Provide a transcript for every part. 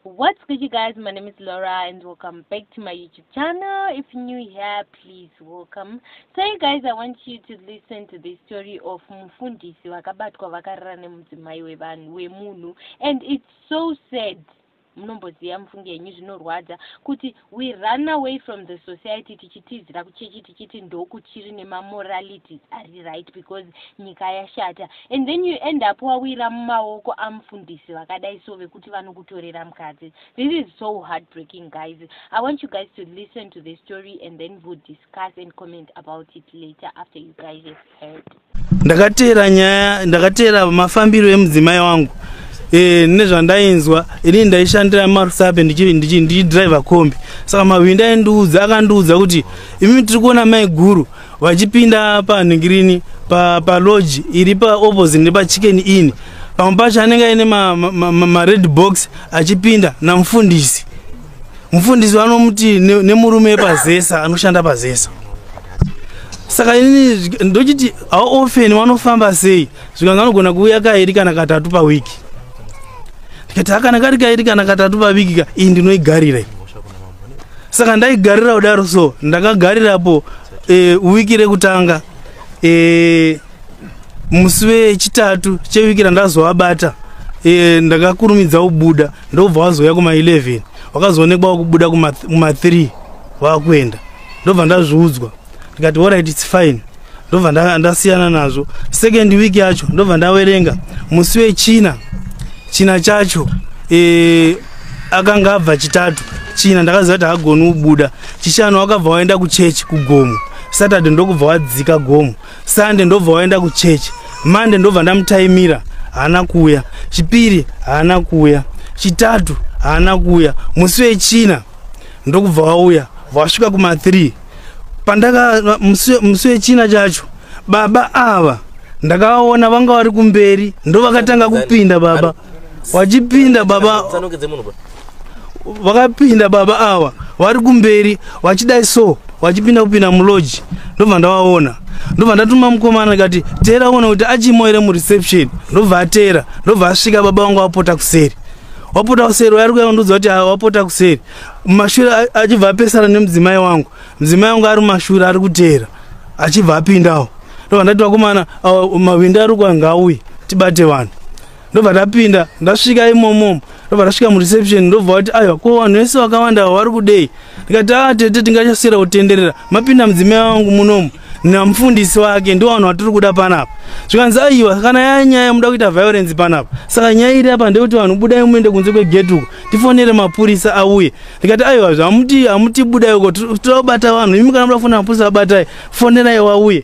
What's good you guys, my name is Laura and welcome back to my YouTube channel. If you're new here, please welcome. So you guys, I want you to listen to the story of Mufundisi wakabatwa vakarara nemudzimai wevanhu wemunhu and it's so sad munomboziva mufunge henyu zvinorwadza kuti We run away from the society tichitizira kuchechi tichiti ndokuchiri nemamoralities ari right because nyika yashata and then you end up wawira mumaoko amufundisi vakadai so vekuti vanokutorera mukadzi this is so heartbreaking guys i want you guys to listen to the story and then we'll discuss and comment about it later after you guys have heard ndakateera nyaya ndakateera mafambiro emudzimai wangu e, nezvandainzwa ini ndaishandira marusape ndichidriver kombi saka mahwindi aindiudza akandiudza kuti imi tiri kuona mai guru vachipinda panhingirini paloji pa, pa iri paopposite nepachicken ini pamwe pacho anenge aine mared ma, ma, ma box achipinda namufundisi mufundisi vanomuti nemurume pazesa anoshanda pazesa saka ini ndochiti how often vanofamba sei zvikanzi vanogona kuuya kairi kana katatu pawiki ndikati akana kari kairi kana katatu paviki ka iyi ndinoigarira saka ndaigarira kudaro so ndakagarirapo e, wiki rekutanga e, musi wechitatu cheviki randazovabata e, ndakakurumidza kubuda ndobva wazouya kuma11 wakazoonekwa wakubuda kuma3 wakuenda ndobva ndazviudzwa ndikati orit its fine ndobva ndasiyana nazvo second week yacho ndobva ndawerenga musi wechina china chacho e, akanga abva chitatu china ndakaziva kuti hagoni kubuda chishanu wakabva waenda kuchechi kugomo saturday ndokubva wadzika gomo sunday ndobva waenda kuchurch monday ndobva ndamutaimira haana kuuya chipiri haana kuuya chitatu haana kuuya musi wechina ndokubva wauya wasvika kuma 3 pandaka musi wechina chacho baba ava ndakavaona vanga vari kumberi ndovakatanga kupinda baba vachipinda baba vakapinda baba awa vari kumberi vachidai so vachipinda kupinda muloji ndobva ndavaona ndobva ndatuma mukomana kati teera ona kuti achimo here mureception ndobva ateera ndobva asvika baba vangu vapota kuseri wapota kuseri wayari kuya kundiudza kuti wapota kuseri mumashure achibva apesana nemudzimai wangu mudzimai wangu ari mumashure ari kuteera achibva apindawo ndobva ndati vakomana mawindi ari kuya ngaauye tibate vanhu ndobva tapinda ndasvika imomo ndobva tasvika mureception ndobva vati aiwa ko vanhu vese vakawanda vari kudei ndikati a ah, tete tingachasiyira kutenderera mapinda mudzimai wangu munomu namufundisi wake ndo vanhu vatiri kuda panapa zvikanzi aiwa kana yaya nyaya muda kuita violence panapa saka nyaya iri apa ndeyekuti vanhu budai muende kunze kwegeti uko tifonere mapurisa auye ndikati aiwa zvamuti hamutibudai uko totobata vanhu imi kana muda kufonera mapurisa abatai fonerai wauye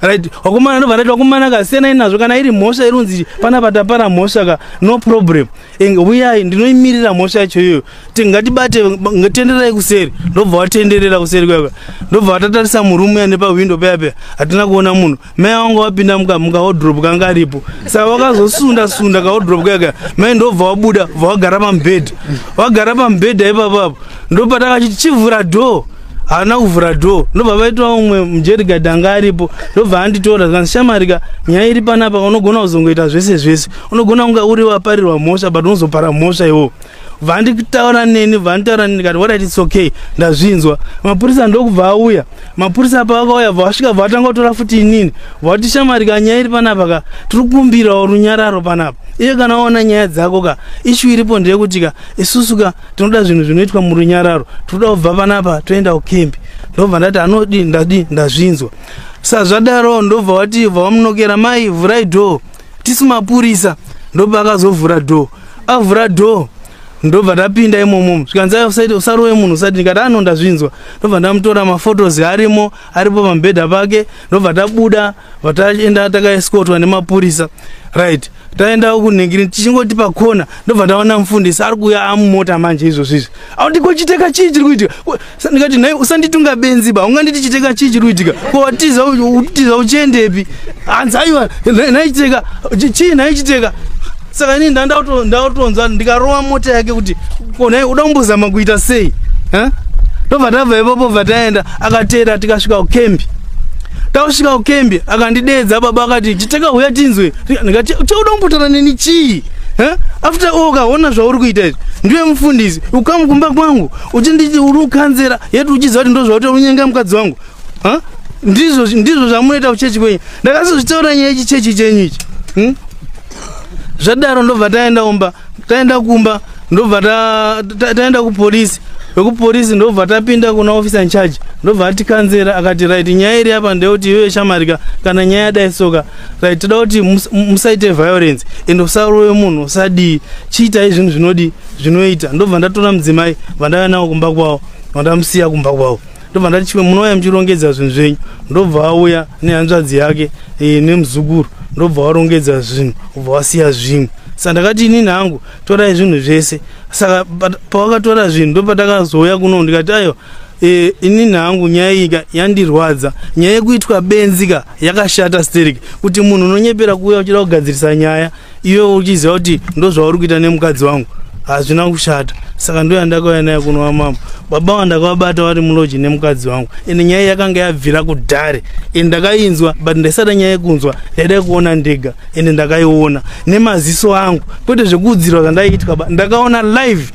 right wakomana ndobva ndati wakomana ka siyanai nazvo kana iri mhosva irunzi pana patapara mhosva ka no problem uyai ndinoimirira mhosva yacho iyoyo tingatibate tenderai kuseri ndobva watenderera kuseri kuyaka ndobva watatarisa murumu ya nepahwindo paya paya hatina kuona munhu mai wanga wapinda mukahodrop kanga aripo saka wakazosunda sunda kahodrop kuyaka mai ndobva wabuda bva wagara pamubhedha wagara pamubhedha ipapapo ndopatakachiti chivhura dhoo haana kuvhura door ndobva vaitwa umwe mujerigad anga aripo ndobva anditora zvikanzi shamarika nyaya iri panapa unogona kuzongoita zvese zvese unogona kunga uri waparirwa mhosva but unozopara mhosva iwo vanditaura neni vanditaura neni kati warit its okay ndazvinzwa mapurisa ndokubva auya mapurisa pavakauya vasvika vatanga kutora futi inini vati shamarika nyaya iri panapa ka tiri kukumbirawo runyararo panapa iye kana waona nyaya dzako ka ishu iripo ndeyekuti ka isusu ka tinoda zvinhu zvinoitwa murunyararo tinoda kubva panapa toenda kukembi ndobva ndati anodi ndadi ndazvinzwa sazvadaro ndobva wati bva wamunokera mai vhurai dhoo tisu mapurisa ndobva akazovhura dhoo avhura dhoo ndobva ndapinda imomomo zvikanzi usaite usarowe munhu usati ndikati ano ndazvinzwa ndobva ndamutora mafotos arimo aripo pamubhedha pake ndobva tabuda vataenda takaeskotwa nemapurisa right taenda uku nengiri tichingoti pakona ndobva ndaona mufundisi ari kuuya amumota manje izvozvo izvi auti ko chiteka chii chiri kuitika Ko- sa- ndikati nhai usanditunga benzi ba unganditi chiteka chii chiri kuitika ko watiza u- utiza uchiendepi hanzi aiwa nhai- nhai chiteka chi- chii nhai chiteka saka ini nda- ndauto- ndautonzwa ndikarova mota yake kuti ko nhai uda kumbozama kuita sei Ha? ndobva tabva ipapo bva taenda akateera tikasvika kukembi takusvika kukembi akandideedza baba akati chiteka huya tinzwe ndikati chauda kumbotara neni chii after all ukaona zvauri kuita izvi ndiwe mufundisi ukamu kumba kwangu uchinditi uri ukanzera yeti uchiziva kuti ndozvauti unyenga mukadzi wangu ndizvo ndizvo zvamunoita kuchechi kwenyu ndakazozvitaura nyaya ichi chechi chenyu ichi hm? zvadaro ndobva taenda umba taenda kumba ndobva taenda kupolisi vekupolisi ndobva tapinda kuna officer incharge ndobva atikanzera akati right nyaya iri apa ndeyekuti iyoyo shamarika kana nyaya yadai soka right toda kuti musaite violence and usarowe munhu usadii chiitai zvinhu zvinodi zvinoita ndobva ndatora mudzimai vandava nawo kumba kwavo vandamusiya kumba kwavo ndobva ndati chimwe munouya muchirongedza zvinhu zvenyu ndobva auya nehanzvadzi yake e, nemuzukuru ndobva warongedza zvinhu ubva wasiya zvimwe saka ndakati inini hangu torai zvinhu zvese saka pawakatora zvinhu ndopatakazouya kuno ndikati aiwa Eh, ini nhangu nyaya iyi yandirwadza nyaya yekuitwa benzi ka yakashata sterek kuti munhu unonyepera kuuya uchida kugadzirisa nyaya iwe uchiziva kuti ndozvauri kuita nemukadzi wangu hazvina kushata saka ndo yandakauya naye kunova mambo baba wandakavabata vari muloji nemukadzi wangu ende nyaya yakanga yabvira kudhare ende ndakainzwa but ndaisada nyaya yekunzwa ndaida kuona ndega ende ndakaiona nemaziso angu kwete zvekuudzirwa zvandaiitwa ndakaona live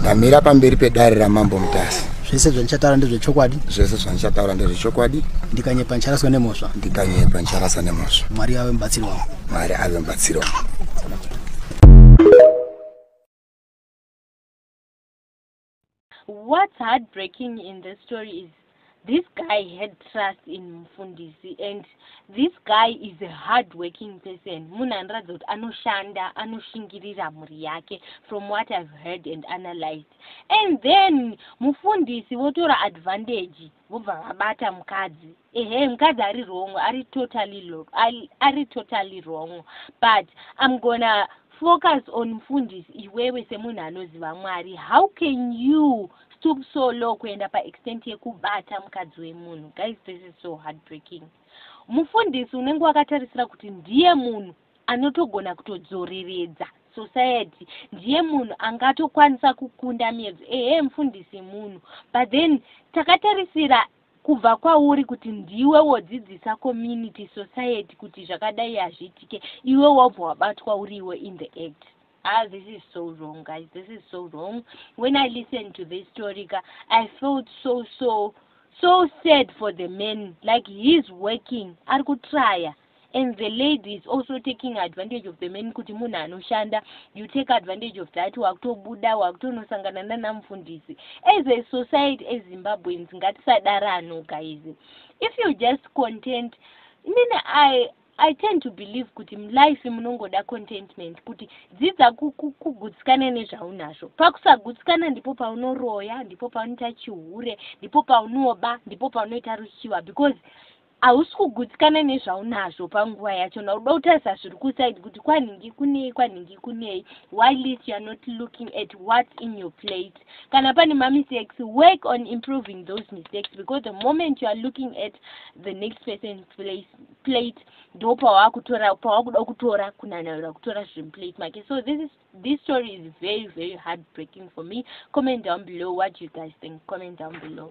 ndamira pamberi pedare ramambo mutasa zvese zvandichataura ndezvechokwadi zvese zvandichataura ndezvechokwadi ndikanyepa ndicharaswa nemhosva ndikanyepa ndicharasa nemhosva mwari ave mubatsiri wangu mwari ave mubatsiri wangu What's heartbreaking in the story is this guy had trust in mufundisi and this guy is a hard working person munhu anoratidza kuti anoshanda anoshingirira mhuri yake from what i've heard and analyzed and then mufundisi votora advantage vobva vabata mukadzi ehe mukadzi ari wrong ari totally ari totally wrong but i'm gonna focus on mfundisi iwewe semunhu anoziva mwari how can you stoop so low kuenda paextent yekubata mukadzi wemunhu guys this is so heartbreaking mufundisi unenge wakatarisira kuti ndiye munhu anotogona kutodzoreredza society ndiye munhu angatokwanisa kukunda miedzo ehe mfundisi munhu but then takatarisira kubva kwauri kuti ndiwe wodzidzisa community society kuti zvakadai hazviitike iwe wabva wabatwa uri iwe in the act ah this is so wrong guys this is so wrong when i listen to this story ka i felt so so so sad for the man like heis working ari kutryer and the lady is also taking advantage of the man kuti munhu anoshanda you take advantage of that wakutobuda wakutonosangana nanamufundisi as a society ezimbabweans ngatisadara ano guys if you just content mine i i tend to believe kuti mulife munongoda contentment kuti dzidza kugutsikana nezvaunazvo pakusagutsikana ndipo paunoroya ndipo paunoita chihure ndipo paunoba ndipo paunoita ruchiva because Hausi kugutsikana nezvaunazvo panguva yacho na uda kutarisa zviri kuside kuti kwanhingi kunei kwanhingi kunei while least you are not looking at what's in your plate kana pane mamistakes work on improving those mistakes because the moment you are looking at the next person's place plate ndo pawakutora pawakuda kutora kunanaira kutora zviri muplate make so this is this story is very very heartbreaking for me comment down below what you guys think comment down below